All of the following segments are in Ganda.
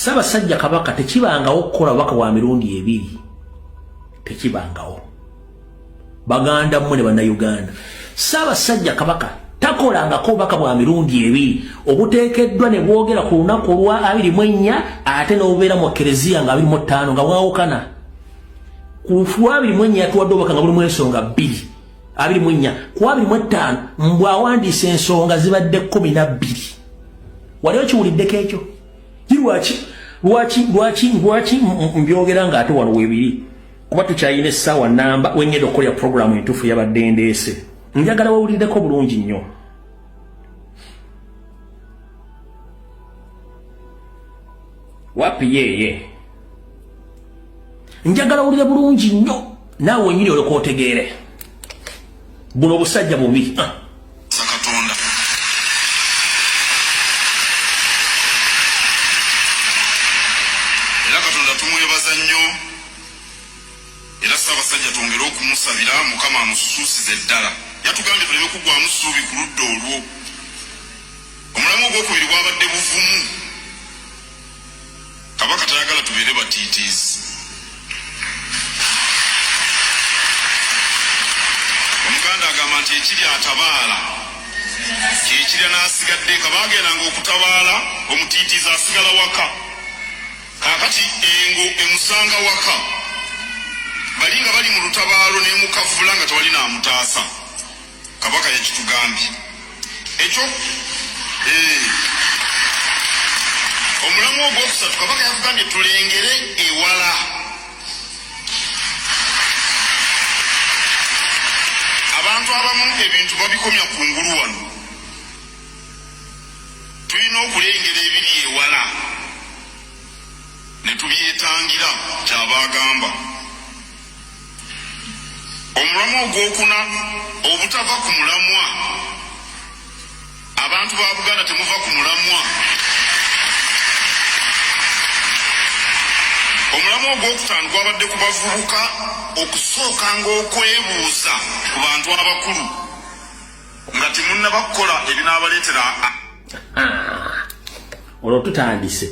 Ssaabasajja Kabaka tekibangawo okukola obubaka bwa mirundi ebiri, tekibangawo. Baganda mmwe ne Bannayuganda, Ssaabasajja Kabaka takolangako obubaka bwa mirundi ebiri obuteekeddwa ne bwogera ku lunaku olwa abiri mu ennya ate n'obubeera mu Kereziya nga abiri mu ttaano nga bwawukana. Ku lwa abiri mu ennya yatuwadde obubaka nga bulimu ensonga bbiri. abiri mu nnya ku abiri mu ettaano mbwawandiisa ensonga zibadde kkumi na bbiri wali okiwuliddeko ekyo Lwaki lwaki lwaki lwaki mbyogera ng'ate wano weebiri kuba tukyalina essaawa namba wengenda okukolera puroguramu entuufu yabadde ndeese njagala wawuliddeko bulungi nnyo wapi yeeye njagala wulire bulungi nnyo naawe wenyini olekootegeere buno busajja bubi ah. sakatonda era katonda tumwebaza nnyo era ssaabasajja twongere okumusabira mukama amususuusize eddala yatugambye tuleme kugwamu ssuubi ku ludda olwo omulamu ogwokubiri gwabadde buvumu Kabaka tayagala tubeere batiitiizi. Omuganda agamba nti ekiri atabaala kyekirya n'asigadde nga baagendanga okutabaala omutiitiizi asigala waka kakati engo emusanga waka bali nga bali mu lutabaalo n'emukavula nga tewali naamutaasa. Kabaka yakitugambye ekyo eh. omulamu ogwokusatu kabaka yakugambye tulengere ewala abantu abamu ebintu babikomya ku ngulu wano tulina okulengera ebiri ewala ne tubyetangira kyabagamba omulamwa ogwokuna obutava ku mulamwa abantu ba buganda temuva ku mulamwa omulamwa ogwokutaano gwabadde ku bavubuka okusooka ngaokwebuuza ku bantu abakulu nga temunnabakukola ebinaabaleetera ah. olwo tutandise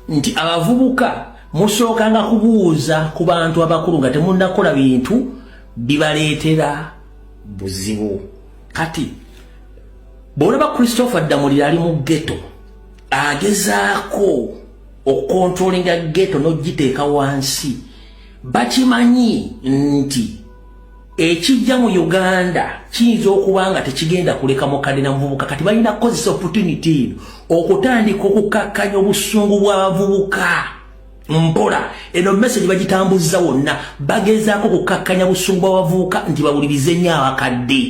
nti abavubuka musookanga kubuuza ku bantu abakulu nga temunnakola bintu bibaleetera buzibu kati bwolaba christopher ddamulira ali mu geto agezaako okukontrolinga geto n'ogiteeka wansi bakimanyi nti ekijja mu Uganda kiyinza okuba nga tekigenda kuleka mukadde na muvubuka kati balina kukozesa opportunity okutandika okukakkanya obusungu bw'abavubuka mpola eno message bagitambuza wonna bagezaako okukakkanya busungu bw'abavubuka nti bawulirize nnyo abakadde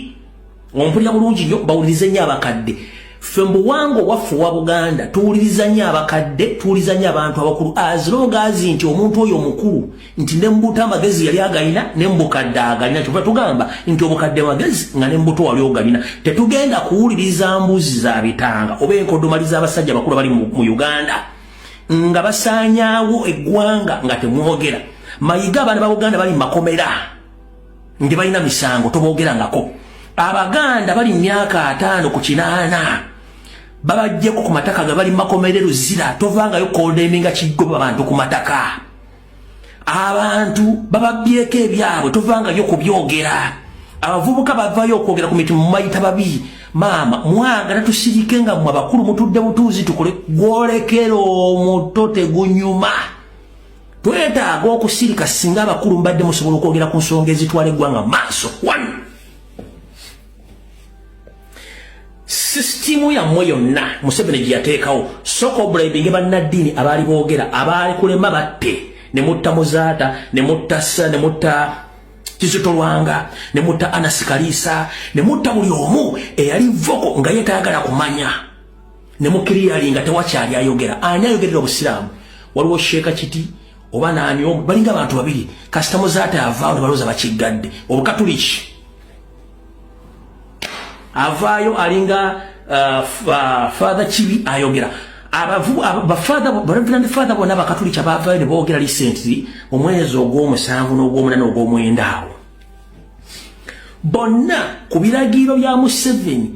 ompulira bulungi nyo bawulirize nyo abakadde ffe mbuwanga owaffe owa buganda tuwuliriza nyo abakadde tuwuliriza nyo abantu abakulu azirogaazi nti omuntu oyo omukulu nti nembuto amagezi yali agalina nembukadde agalina kyova tugamba nti obukadde magezi nga nembuto wali ogalina tetugenda kuwuliriza mbuzi za bitanga oba enkodomali z'abasajja abakulu bali mu uganda nga basaanyaawo eggwanga nga temwogera mayiga abaana ba buganda bali mu makomera ndi balina misango tobogerangako abaganda bali myaka ataano ku kinaana babajjeko ku mataka nga bali makomere luzira tovangayo kodeminga kigoba bantu ku mataka abantu bababyeko ebyabwe tovangayo kubyogera abavubuka bavayo okwogera ku mitimu mumayita babi maama mwagala tusirike nga mwe abakulu mutudde butuuzi tukole gwolekera omuto tegunyuma twetaaga okusirika singa abakulu mbadde musobola okwogera ku nsonga ezitwala eggwanga maaso one sisitimu yammwe yonna museveni gye yateekawo soka obulaibinge bannaddiini abaali boogera abaali kulema batte ne mutta muzaata ne mutta sa ne mutta kizitolwanga ne mutta anasikaliisa ne mutta buli omu eyali voko nga yetaagala kumanya ne mukiriyali nga tewakyali ayogera ani ayogerera obusiraamu waliwo sheeka kiti oba naani omu balinga abantu babiri kasita muzaata yavaawo nebalooza bakiggadde obukatuliki avaayo alinga uh, uh, father kibi ayogera abafaathabareverand father bona bakatuliki abavaayo ne boogera lisenti omwezi ogw'omusanvu n'ogw'omunana ogw'omwenda awo bonna ku biragiiro bya museveni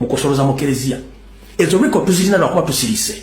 mu kusoloza mu kereziya ezo record tuzirina lwakuba tusirise